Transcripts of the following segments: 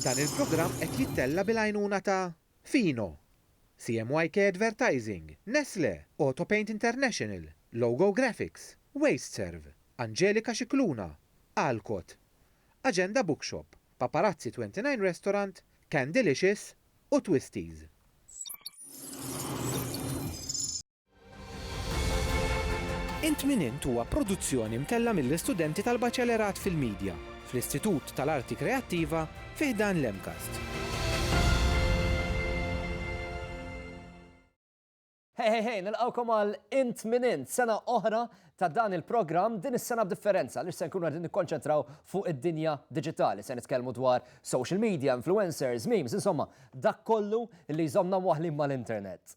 Dan il-programm qed jittella' bil-għajnuna ta' Fino, CMYK Advertising, Nestlé, Autopaint International, Logo Graphics, Wasteserv, Angelika Scicluna, Alcott, Agenda Bookshop, Paparazzi 29 Restaurant, Candelicious u Twisties. Int Min Int huwa produzzjoni mtellgħa mill-istudenti tal-Baċelerat fil-Midja fl-Istitut tal-Arti Kreattiva fi ħdan l-MCAST. Hey, hey, hey, nilqawkom għal Int Min Int, sena oħra ta' dan il-programm din is-sena b'differenza li se nkunu qed nikkonċentraw fuq id-dinja diġitali. Se nitkellmu dwar social media, influencers, memes, insomma, dak kollu li jżommna waħlin mal-internet.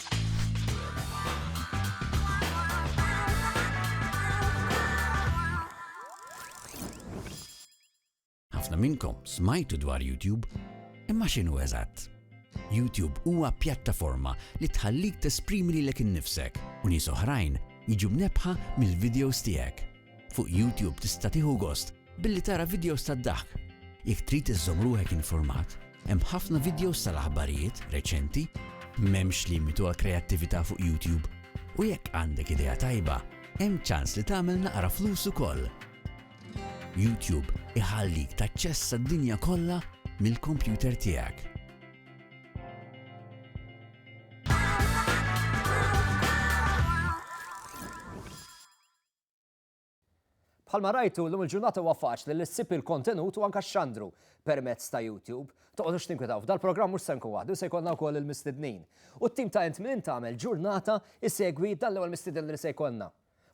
Ħafna minnkom smajtu dwar YouTube, imma x'inhu eżatt? YouTube huwa pjattaforma li tħallik tesprimi lilek innifsek u nies oħrajn jiġu mnebbħa mill-videos tiegħek. Fuq YouTube tista' tieħu gost billi tara vidjows tad-daħk. Jekk trid iżżomm ruħek informat, hemm ħafna vidjows tal-aħbarijiet reċenti, m'hemmx limitu għall-kreattività fuq YouTube, u jekk għandek idea tajba, hemm ċans li tagħmel naqra flus ukoll. YouTube iħallik taċċessa d-dinja kollha mill-kompjuter tiegħek. Bħalma rajtu, llum il-ġurnata huwa faċli li ssib il-kontenut u anke xandru permezz ta' YouTube. Toqgħodux tinkwetaw, f'dal-programm mhux se nkun waħdu, se jkollna wkoll il-mistednin. U t-tim ta' Int Min Int tagħmel ġurnata jsegwi dan l-ewwel mistieden li se jkollna.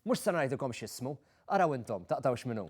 Mhux se ngħidilkom x'ismu, araw intom, taqtgħux min hu.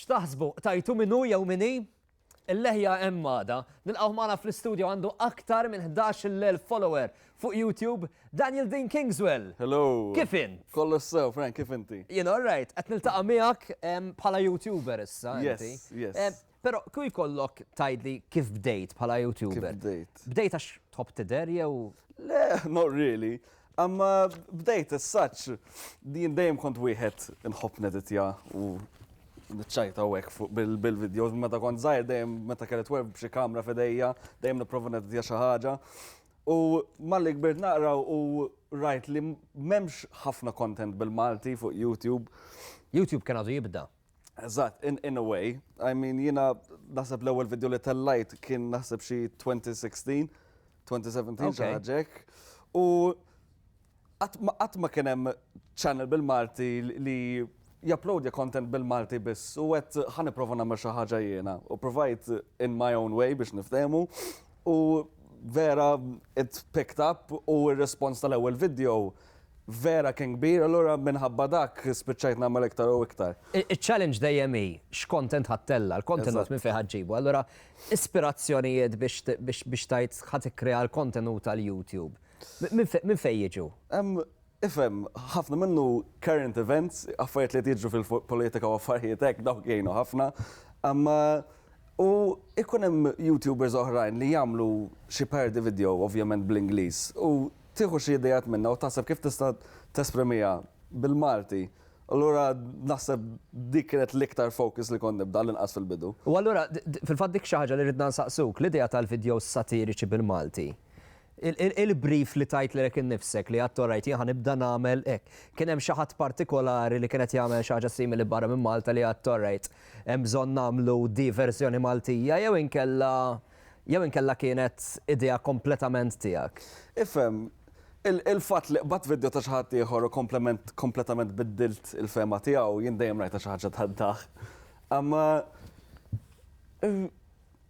X'taħsbu? Tajtu min hu jew min hi? Il-leħja hemm għada. Nilqgħu magħna fl-istudju għandu aktar minn 11,000 follower fuq YouTube, Daniel Dean Kingswell. Hello. Kif in? Kollu sew, Frank, kif inti? Jien all right, qed niltaqa' miegħek bħala YouTuber issa. Yes, yes. Pero kju jkollok tajdli kif bdejt bħala YouTuber? Bdejt. Bdejt għax top tider jew? Le, not really. Amma bdejt s-saċ, din dejjem kont wieħed nħobb neditja u nċajta u fuq bil-videos, meta kont zaħir dejjem meta kellet web b'xi kamra fedejja, dejjem niprofa neditja xi ħaġa. U malli kbirt naqra u rajt li memx ħafna content bil-Malti fuq YouTube. YouTube kien għadu jibda. Eżatt, in, in a way. I mean, jina naħseb l-ewwel video li tellajt kien naħseb xi 2016, 2017 okay. ġaġek. U qatt ma kien hemm channel bil-Malti li japplodja content bil-Malti biss u għet ħan iprofa namel xi ħaġa jiena u provajt in my own way biex niftehmu U vera it picked up u r-rispons tal-ewwel video vera kien kbir, allura minħabba dak spiċċajt nagħmel iktar u iktar. Iċ-challenge dejjem hi x'content ħa ttella', l-kontenut minn fejn ħa ġġibu. Allura ispirazzjonijiet biex tgħid ħa tikkrea l-kontenut għal YouTube minn fejn jiġu? Ifhem, ħafna minnu current events, affarijiet li qed jiġru fil-politika u affarijiet hekk, dawk jgħinu ħafna. Imma u jkun hemm YouTubers oħrajn li jagħmlu xi parody video, ovvjament bl-Ingliż, u tieħu xi ideat minnha u taħseb kif tista' tesprimiha bil-Malti. Allura naħseb dik kienet l-iktar focus li kont nibda, għall-inqas fil-bidu. U allura, fil-fatt dik xi ħaġa li ridna nsaqsuk, l-idea tal-videos satiriċi bil-Malti, Il-brief li tajt lilek innifsek li għedt orajt jien ħa nibda nagħmel hekk. Kien hemm xi ħadd partikolari li kien qed jagħmel xi ħaġa simili barra minn Malta li għedt orajt hemm bżonn nagħmlu di verżjoni Maltija jew inkella jew inkella kienet idea kompletament tiegħek? Ifhem, il-fatt li qbadt vidjo ta' xi ħadd ieħor u kompletament biddilt il-fehma tiegħu jien dejjem rajtha xi ħaġa tad-daħk. Imma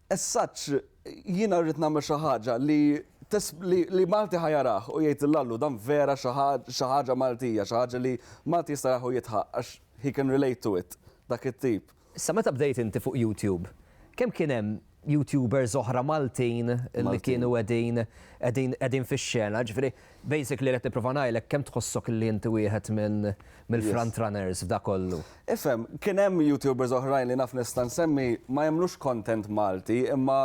As such, jiena rrid nagħmel xi ħaġa li li Malti ħa jarah u jgħid l-Allu dan vera xi ħaġa Maltija, xi ħaġa li Malti jista' jarah u jidħaq għax he can relate to it, dak it-tip. Sa meta bdejt inti fuq YouTube, kemm kien hemm YouTubers oħra Maltin li kienu qegħdin qegħdin qegħdin fix-xena? Ġifieri, Basically qed nipprova ngħidlek kemm tħossok li inti wieħed minn mill-front runners f'dak kollu. Ifhem, kien hemm YouTubers oħrajn li naf nista' nsemmi ma jagħmlux content Malti imma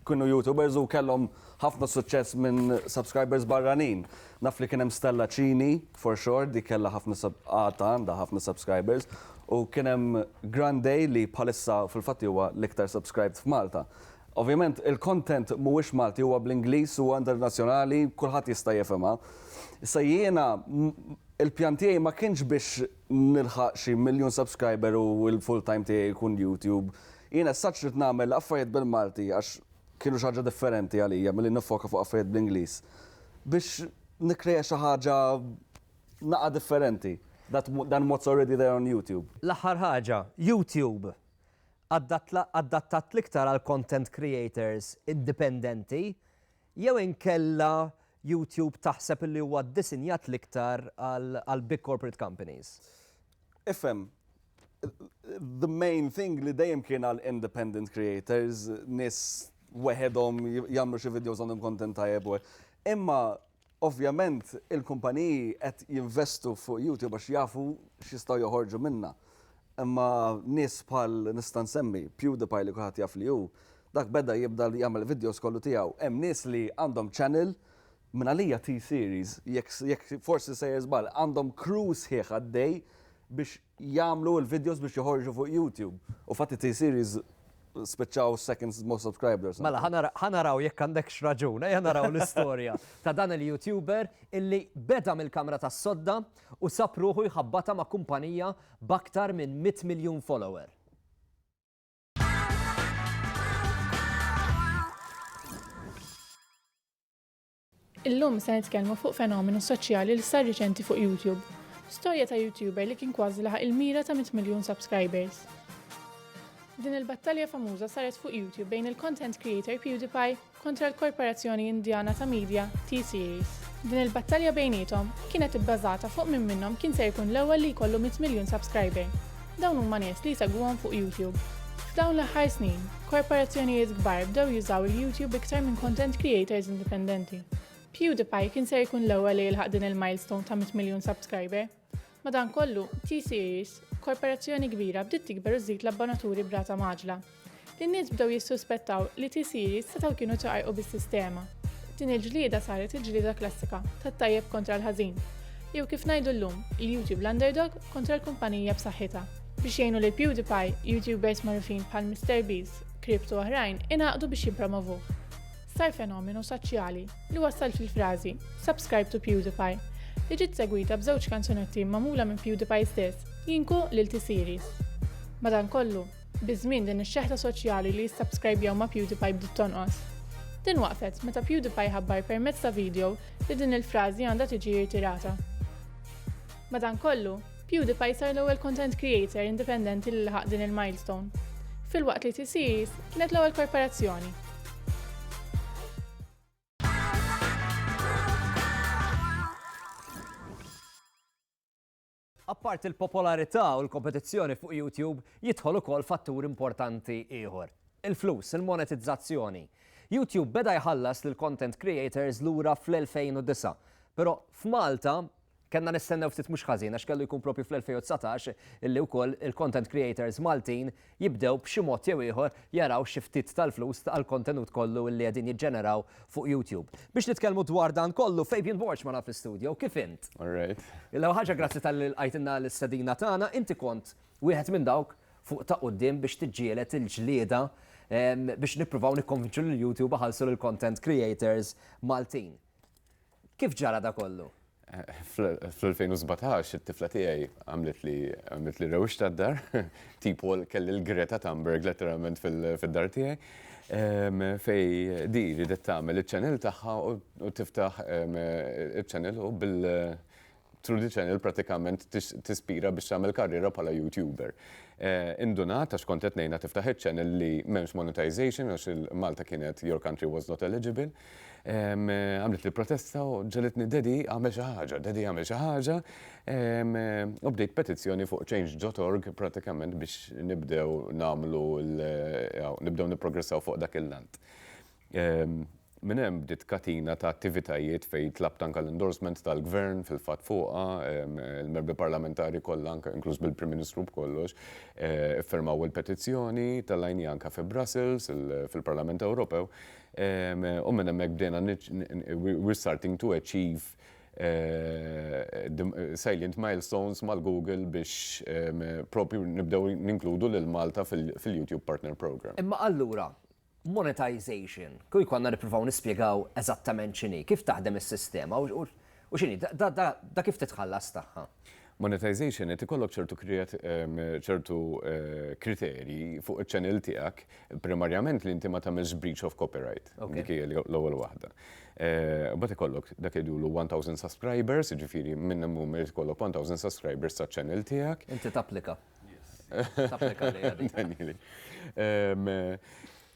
kienu YouTubers u kellhom ħafna suċċess minn subscribers barranin. Naf li kien hemm Stella Cini, for sure, dik kellha ħafna għadha għandha ħafna subscribers, u kien hemm Grandey li bħalissa fil-fatt huwa l-iktar subscribed f'Malta. Ovvjament il-content mhuwiex Malti huwa bl-Ingliż huwa internazzjonali kulħadd jista' jifhimha. Issa jiena il-pjan tiegħi ma kienx biex nilħaq xi miljun subscriber u l-full time tiegħi jkun YouTube. Jiena as such ridt nagħmel affarijiet bil-Malti għax kienu xi ħaġa differenti għalija milli niffoka fuq affarijiet bl-Ingliż. Biex nikkrea xi ħaġa naqa' differenti than what's already there on YouTube. L-aħħar ħaġa, YouTube! adattat l-iktar għal content creators indipendenti jew inkella YouTube taħseb li huwa ddisinjat l-iktar għal big corporate companies? Ifhem, the main thing li dejjem kien għal independent creators, nies weħedhom jagħmlu xi videos għandhom content tajjeb u hekk. Imma Ovvjament il-kumpaniji qed jinvestu fuq YouTube għax jafu x'jistgħu joħorġu minnha. Imma nies bħal, nista' nsemmi, PewDiePie li kulħadd jaf li hu, dak beda jibda jagħmel videos kollu tiegħu. Hemm nies li għandhom channel, minn għalija T-Series, jekk forsi sejjer żball, għandhom crew sħiħ għaddej biex jagħmlu l-videos biex joħorġu fuq YouTube. U fatt it-T series spiċċaw second most subscribers. Mela ħa naraw jekk għandekx raġun, ejja naraw l-istorja ta' dan il-YouTuber illi beda mill-kamra tas-sodda u sab ruħu jħabbatha ma' kumpanija b'aktar minn 100 miljun follower. Illum se nitkellmu fuq fenomenu soċjali li sar riċenti fuq YouTube. Storja ta' YouTuber li kien kważi laħaq il-mira ta' 100 miljun subscribers. Din il-battalja famuża saret fuq YouTube bejn il-content creator PewDiePie kontra l-korporazzjoni Indjana ta' media T-Series. Din il-battalja bejniethom kienet ibbażata fuq min minnhom kien ser jkun l-ewwel li jkollu 100 miljun subscriber. Dawn huma nies li jsegwuhom fuq YouTube. F'dawn l-aħħar snin, korporazzjonijiet kbar bdew jużaw il-YouTube iktar minn content creators indipendenti. PewDiePie kien ser ikun l-ewwel li jilħaq din il-milestone ta' 100 miljun subscriber. Madankollu, T-Series, korporazzjoni kbira bdiet tikber u żżid l-abbonaturi b'rata mgħaġġla. In-nies bdew jissuspettaw li T-Series setgħu kienu ċaqalqu bis-sistema. Din il-ġlieda saret il-ġlieda klassika tat-tajjeb kontra l-ħażin, jew kif ngħidu llum, il-YouTube l-underdog kontra l-kumpanija b'saħħitha. Biex jgħinu lil PewDiePie, YouTubers magħrufin bħal MrBeast, Crypt u oħrajn ingħaqdu biex jippromovuh. Sar fenomenu soċjali li wassal fil-frażi Subscribe to PewDiePie, li ġiet segwita b'żewġ kanzunetti magħmula minn PewDiePie stess, Jinku lil T-Series. Madankollu, Biż-żmien din ix-xeħta soċjali li jissabskrajbjaw ma' PewDiePie bdiet tonqos. Din waqfet meta PewDiePie ħabbar permezz ta' vidjo li din il-frażi għandha tiġi irtirata. Madankollu, PewDiePie sar l-ewwel content creator indipendenti li laħaq din il-milestone, filwaqt li T-Series kienet l-ewwel korporazzjoni. Apparti l-popolarità u l-kompetizzjoni fuq YouTube, jidħol ukoll fattur importanti ieħor, il-flus, il-monetizzazzjoni. YouTube beda jħallas lill-content creators lura fl-2009, però f'Malta kellna nistennew ftit mhux ħażin għax kellu jkun proprju fl-2019 illi wkoll il-content creators Maltin jibdew b'xi mod jew ieħor jaraw xi ftit tal-flus għall-kontenut kollu illi qegħdin jiġġeneraw fuq YouTube. Biex nitkellmu dwar dan kollu, Fabian Borg magħna fl-istudjo. Kif int? All right. L-ewwel ħaġa grazzi talli lqajtilna l-istedina tagħna. Inti kont wieħed minn dawk fuq ta' quddiem biex tiġġieled il-ġlieda biex nippruvaw nikkonvinċu lil YouTube iħallsu lill-content creators Maltin. Kif ġara da kollu? Fl-2017 it-tifla tiegħi għamlet li għamlet li rewix tad-dar, tipo kelli l-Greta Thunberg letteralment fid-dar tiegħi, ehm, fej di ridet tagħmel iċ-channel tagħha u tiftaħ ehm, iċ-channel u bil Trudy Channel pratikament tispira biex tagħmel karriera bħala YouTuber. Eh, indunat għax kont qed ngħinha tiftaħ iċ-channel li m'hemmx monetization għax il-Malta kienet your country was not eligible. Eh, għamlet li protesta u ġelitni dedi għamel xi ħaġa, dedi għamel xi ħaġa. U bdejt petizzjoni fuq change.org pratikament biex nibdew nagħmlu nibdew nipprogressaw fuq dak il-lant. Minn hemm bdiet katina ta' attivitajiet fejn tlabt anke l-endorsement tal-Gvern fil-fatt fuqha. Il-Membri Parlamentari kollha anke inkluż bil-Prim Ministru b'kollox iffirmaw il-petizzjoni, tellgħini anke fi Brussels fil-Parlament Ewropew. U minn hemmhekk bdejna we're starting to achieve salient milestones mal-Google biex proprju nibdew ninkludu lil Malta fil-YouTube Partner Programme. Imma allura, Monetization. Kieku għandna nippruvaw nispjegaw eżattament x'inhi, kif taħdem is-sistema u u x'inhi da kif titħallas tagħha. Monetization qed ikollok ċertu ċertu kriterji fuq iċ-channel tiegħek primarjament li inti ma tagħmilx breach of copyright. Dik hi l-ewwel waħda. Imbagħad ikollok dak li jgħidulu 1,000 subscribers, jiġifieri minn hemm u minn irid ikollok 1,000 subscribers taċ-channel tiegħek. Inti tapplika.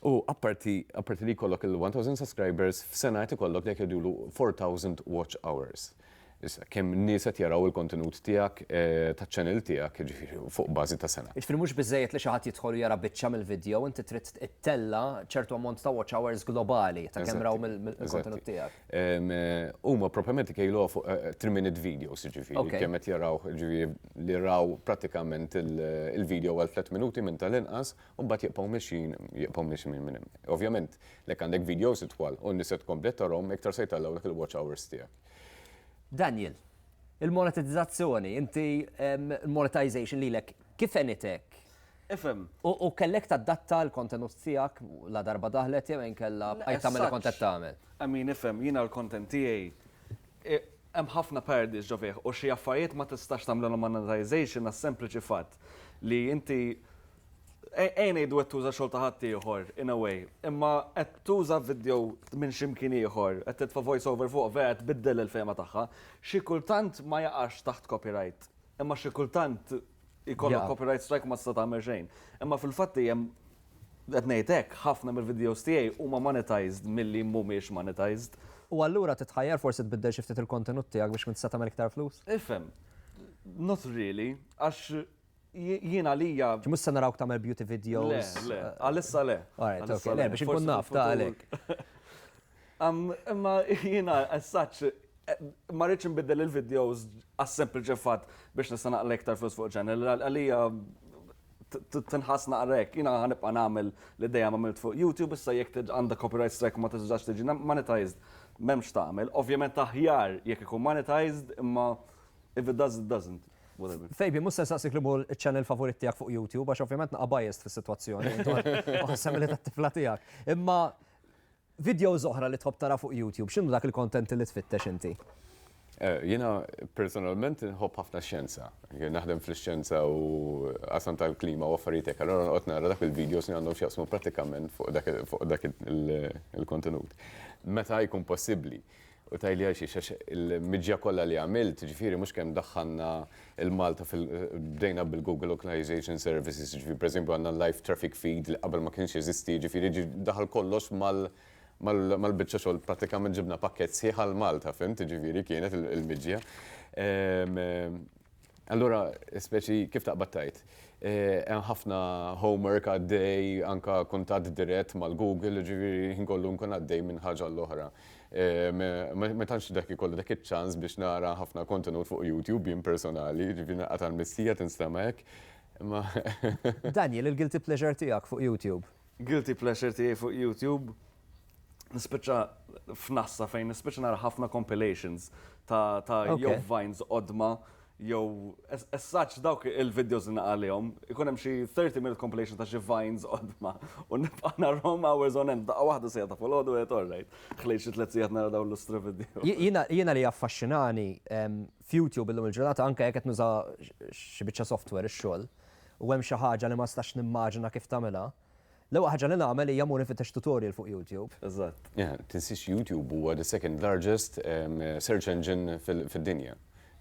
U apparti li jkollok il-1000 subscribers, f'sena qed ikollok dak li jgħidulu 4000 watch hours. Issa, kemm nies qed jaraw il-kontenut tiegħek taċ-channel tiegħek, jiġifieri fuq bażi ta' sena. Jiġifieri mhux biżżejjed li xi ħadd jidħol u jara biċċa mill-vidjow, inti trid ittella' ċertu ammont ta' watch hours globali ta' kemm raw mill-kontenut tiegħek. Huma propjament ikejluha fuq 3-minute eh, videos, ġifieri, kemm qed jaraw ġifieri li raw prattikament il-video għal 3 minuti minn tal-inqas u mbagħad jibqgħu mixin, jibqgħu mixin minn hemm. Ovvjament, lek għandek videos itwal u n-nisa tkompli tarhom iktar se jtellgħu dak il-watch hours tiegħek. Daniel, il-monetizzazzjoni, inti il-monetization lilek kif enitek? Ifhem. U kellek tadatta l-kontenut tiegħek ladarba daħlet jew inkella bqajt tagħmel li kont qed tagħmel? I mean, ifhem, jiena l-content tiegħi hemm ħafna parodies ġo fih u xi affarijiet ma tistax tagħmlilhom monetization għas-sempliċi fatt li inti ejja ngħidu qed tuża xogħol ta' ħaddieħor in a way, imma qed tuża video minn xi mkien ieħor, qed titfa' voice over fuqu, vera qed tbiddel il-fehma tagħha. Xi kultant ma jaqax taħt copyright, imma xi kultant Ikollok copyright strike ma tista' tagħmel xejn. Imma fil-fatt hemm qed ngħid hekk, ħafna mill-videos tiegħi huma monetized milli mhumiex monetized. U allura titħajjar forsi tbiddel xi ftit il-kontenut tiegħek biex tkun tista' tagħmel iktar flus? Ifhem, not really, għax jien għalija. Ġi mhux se narawk tagħmel beauty videos. Le, le, għalissa le. Alright, ok, le biex inkun naf ta' għalhekk. Imma jiena as such ma rridx inbiddel il-videos għas-sempliċi fatt biex nista' naqla iktar flus fuq channel. Għalija tinħass naqra hekk. Jiena ħanibqa' nagħmel li dejjem għamilt fuq YouTube issa jekk għandha copyright strike u ma tistax tiġi monetized m'hemm x'tagħmel. Ovvjament aħjar jekk ikun monetized imma if it does it doesn't. Fabian, mhux se nsaqsik li hu ċ-channel favorit tiegħek fuq YouTube għax ovvjament naqgħa biased fis-sitwazzjoni. Intu għad u ħassem li tat-tifla tiegħek. Imma Videos oħra li tħobb tara fuq YouTube, x'inhu dak il-content li tfittex inti? Jiena personalment inħobb ħafna x-xjenza. Jien naħdem fl-ixxjenza u qasam tal-klima u affarijiet hekk, allura noqgħod nara dak il-videos li għandhom x'jaqsmu prattikament fuq dak il-kontenut. Meta jkun possibbli. U tgħidli għal xiex, għax il-miġja kollha li għamilt, ġifieri mhux kemm daħħalna l-Malta fil-, bdejna bil-Google Localization Services, ġifieri pereżempju għandna l-live traffic feed li qabel ma kienx jeżisti, jiġifieri daħal kollox mal-, mal-biċċa xogħol prattikament ġibna pakkett sħiħ għal Malta, fhimt, jiġifieri kienet il-miġja. Allura, speċi kif taqbad tgħid, hemm ħafna homework għaddej, anke kuntatt dirett mal-Google, jiġifieri l-ħin kollu nkun għaddej minn ħaġa għal oħra. Ma tantx dak ikolli dak iċ-ċans biex nara ħafna kontenut fuq YouTube jien personali, jiġifieri nilqa' tal-missija tinstema' hekk, imma. Daniel, il-guilty pleasure tiegħek fuq YouTube? Guilty pleasure tiegħi fuq YouTube, nispiċċa f'nassa fejn nispiċċa nara ħafna compilations ta' jew vines qodma jew essaċ dawk il-videos li naqalihom, ikun hemm xi 30 minute compilation ta' xi vines qodma u nibqa' narhom hours on end, daqqa waħda sejja ta' folodu qed orrejt. Ħlejt xi tliet sigħat nara dawn l-istra video. Jiena li jaffaxxinani f'YouTube illum il-ġurnata anke jekk qed nuża xi biċċa software ix-xogħol, u hemm xi ħaġa li ma nistax nimmaġina kif tagħmilha, l-ewwel ħaġa li nagħmel hija mmur infittex tutorial fuq YouTube. Eżatt. Yeah, tinsiex YouTube huwa the second largest search engine fid-dinja.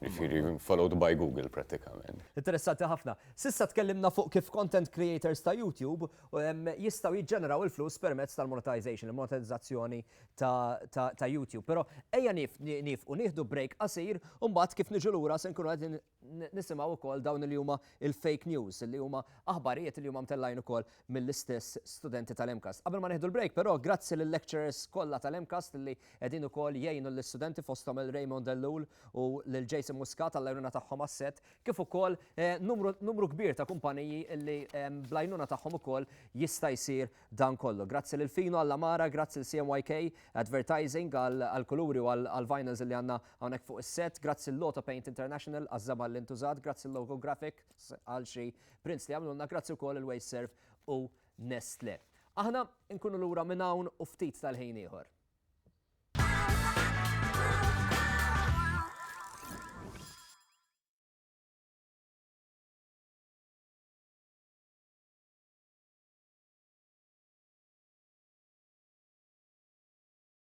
Jiġifieri followed by Google prattikament. Interessanti ħafna. S'issa tkellimna fuq kif content creators ta' YouTube jistgħu jiġġeneraw il-flus permezz tal-monetization, il-monetizzazzjoni ta' YouTube. Però ejja niefqu nieħdu break qasir u mbagħad kif niġu lura se nkunu qegħdin Nisimgħu wkoll dawn li huma l-fake news, li huma aħbarijiet li huma mtellgħin ukoll mill-istess studenti tal-MCAST. Qabel ma nieħdu l-break però, grazzi lil-lecturers kollha tal-MCAST li qegħdin ukoll jgħinu lis-studenti fosthom lil Raymond Ellul u lil Jason Muscat għall-għajnuna tagħhom għas-set, kif ukoll numru kbir ta' kumpaniji li bl-għajnuna tagħhom ukoll jista' jsir dan kollu. Grazzi lil Fino għall-għamara, grazzi lil CMYK Advertising għall-kuluri u għall-vinyls li għandna Hawnhekk fuq is-sett, grazzi l-Loto Paint International għaż-żamar li ntużat, grazzi l-Logo Graphics għal xi prints li għamlulna, grazzi wkoll il-Wasteserv u Nestle. Aħna nkunu lura minn hawn u ftit tal-ħin ieħor.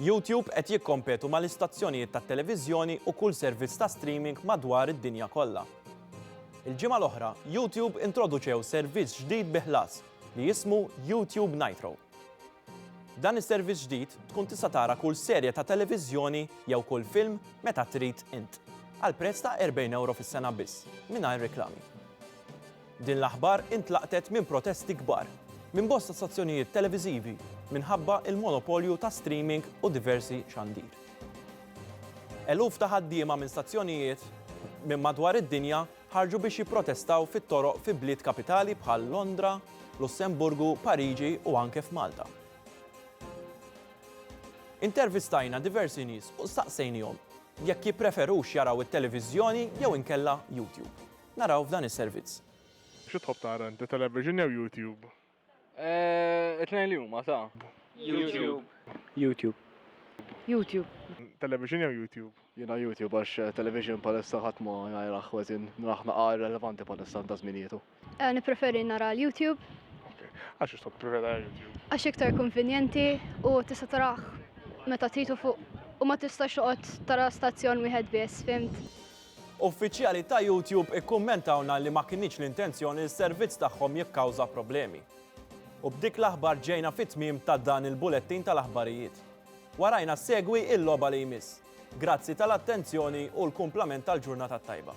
YouTube qed jikkompetu mal-istazzjonijiet tat-televiżjoni u kull servizz ta' streaming madwar id-dinja kollha. Il-ġimgħa l-oħra, YouTube introduċew servizz ġdid bi ħlas li jismu YouTube Nitro. B'dan is-servizz ġdid tkun tista' tara kull serje ta' televiżjoni jew kull film meta trid int, għal prezz ta' 40 ewro fis-sena biss, mingħajr riklami. Din l-aħbar intlaqtet minn protesti kbar minn bosta stazzjonijiet televiżivi minħabba l-monopolju ta' streaming u diversi xandir. Eluf ta' ħaddiema minn stazzjonijiet minn madwar id-dinja ħarġu biex jipprotestaw fit-toroq fi bliet kapitali bħal Londra, Lussemburgu, Pariġi u anke f'Malta. Intervistajna diversi nies u staqsejnihom jekk jippreferux jaraw it-televiżjoni jew inkella YouTube. Naraw f'dan is-servizz. Xi tħobb tara inti, television jew YouTube? Eh, it-tnejn li huma ta'. YouTube. YouTube. YouTube. Television jew YouTube? Jiena YouTube għax eh, television palissa ħadd ma jgħajraħ ħweżin naraħ naqar relevanti palissa ta' żminietu. Eh, Nippreferi nara l-YouTube Għax xi tħobb prefera YouTube? għax iktar konvenjenti u tista' taraħ meta tritu fuq u ma tistax toqgħod tara stazzjon wieħed biss, fimt? Uffiċjali ta' YouTube ikkummentawlna li ma kinitx l-intenzjoni li s-servizz tagħhom jikkawża problemi. U b'dik l-aħbar ġejna fit-tmiem ta' dan il-bulettin tal-aħbarijiet. Warajna ssegwi il-logħba li jmiss. Grazzi tal-attenzjoni u l-kumplament tal-ġurnata t-tajba.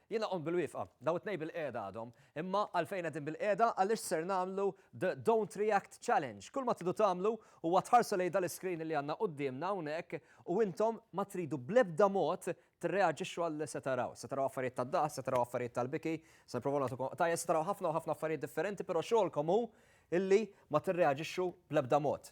Jiena qomt bilwieqfa. Dawn it-tnejn bilqiegħda għadhom. Imma għalfejn qegħdin bilqiegħda? Għaliex ser nagħmlu the Don't React Challenge. Kull ma tridu tagħmlu huwa tħarsu lejn dal-iscreen li għandna quddiemna hawnhekk u intom ma tridu bl-ebda mod tirreaġixxu għal li se taraw. Se taraw affarijiet tad-daqs, se taraw affarijiet tal-biki, se nipprovaw nagħtukom qtajjes, se taraw ħafna u ħafna affarijiet differenti, però xogħolkom hu illi ma tirreaġixxu bl-ebda mod.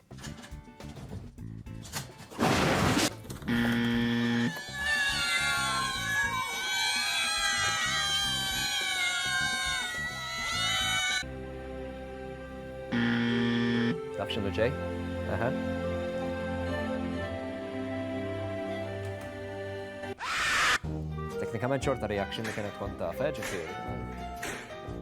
Taf ġej? Teknikament xorta reaction li kienet tkun taf, eh, ġifieri.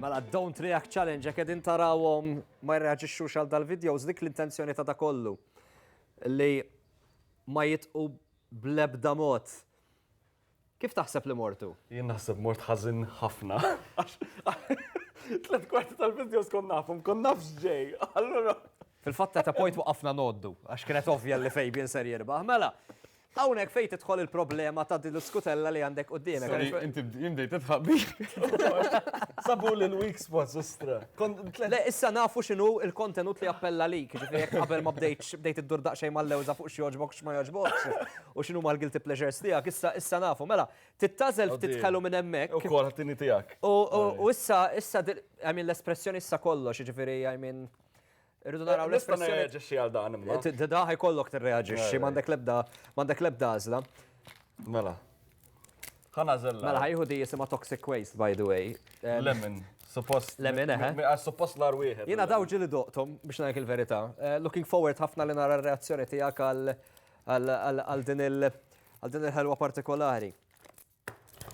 Mela, don't react challenge, jek edin tarawom ma jirreagġiċu xal dal-videos, dik l-intenzjoni ta' da kollu. Li ma jitqu blebda mot. Kif taħseb li mortu? Jien naħseb mort ħażin ħafna. Tlet kwarti tal-videos kon nafhom, kon naf x'ġej. Allura. Fil-fatt ta' point waqafna noddu, għax kienet ovvja li Fabian ser jirbaħ. Mela, Hawnhekk fejn tidħol il-problema ta' din l-iskutella li għandek quddiemek. Inti jimdej tidħaq bih. Sabu li l-weak spots istra. Le issa nafu x'inhu il-kontenut li appella lik, ġifieri qabel ma bdejtx bdejt iddur daqsxejn mal-lewża fuq x'joġbok x'ma joġbokx. U x'inhuma l-guilty pleasures tiegħek? Issa issa nafu, mela, tittażel ftit ħelu minn hemmhekk. U kol ħattini tiegħek. U issa issa I mean l-espressjoni issa kollox, jiġifieri I mean Irridu naraw l-espressjoni. Nista' nirreaġixxi għal dan imma. Da ħajkollok tirreaġixxi, m'għandek l-ebda m'għandek l-ebda għażla. Mela. Ħanażel. Mela ħajħu di jisimha toxic waste by the way. Lemon. Suppost. Lemon, eħe. Eh? Suppost l wieħed. Jiena daw ġili doqtom biex ngħid il-verità. Eh, looking forward ħafna li nara r-reazzjoni tiegħek għal Għal din il-ħelwa partikolari.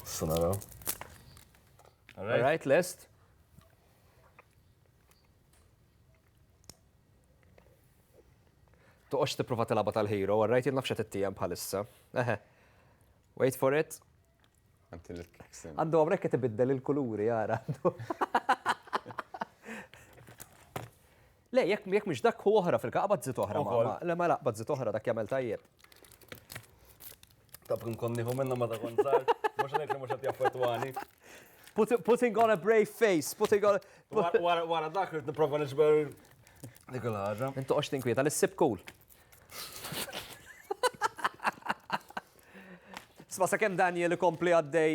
Sanaraw. All right, list. Toqgħodx tipprova tilgħabha tal-hero, all right, jien nafx qed ittijem bħalissa. Eħe. Wait for it. Għandu għamrek qed ibiddel il-kuluri, jara. Le, jekk jekk mhux dak hu oħra fil-ka qabad żid oħra. Ukoll. ma- Le ma la qabad żid oħra dak jagħmel tajjeb. Tab kien kon nieħu minnha ma ta' kont sar. Mhux ngħid li mhux qed jaffettwani. Put- Putting on a brave face, putting on Wara- Wara wara dak rrid nipprova niġbor dik il-ħaġa. Intu qox tinkwieta li ssib cool. Sma sa' kem Daniel kompli għaddej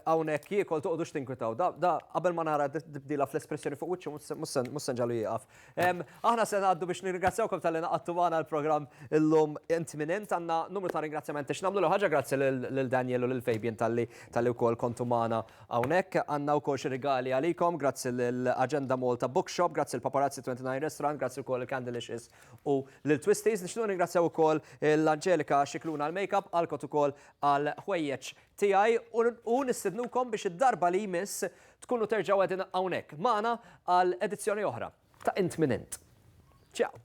għawnek jiekol toqdu xtinkwitaw. Da qabel ma nara dibdila fl-espressjoni fuq wicċu mussen ġalu jieqaf. Aħna se għaddu biex nirringrazzjawkom tal-li naqattu għana l-program illum int minent għanna numru ta' ringrazzjament ix namlu l-ħagġa grazzi l-Daniel u l-Fabian tal-li tal-li u kol kontu maħna għawnek għanna u kol xirigali għalikom grazzi l-Agenda Malta Bookshop, grazzi l-Paparazzi 29 Restaurant, grazzi u kol il-Candleishes u lil Twisties. Nixtiequ nirringrazzjaw ukoll lil Angelika Scicluna għall-makeup, Alcott ukoll għall-ħwejjeġ tiegħi u nistidnukom biex id-darba li jmiss tkunu terġgħu qegħdin hawnhekk magħna għal edizzjoni oħra ta' Int Min Int. Ciao!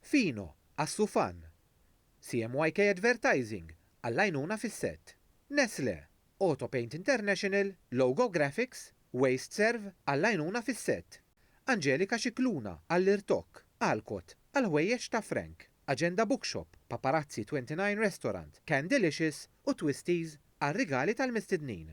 Fino, Assufan, CMYK Advertising, għall-għajnuna fis-sett. Nestlé, Autopaint International, Logo Graphics, WasteServe, għall-għajnuna fis-sett. Angelika Scicluna, għall-irtokk. Alcott, għall-ħwejjeġ ta' Frank. Agenda Bookshop, Paparazzi 29 Restaurant, Candylicious u Twisties għar-rigali tal-mistednin.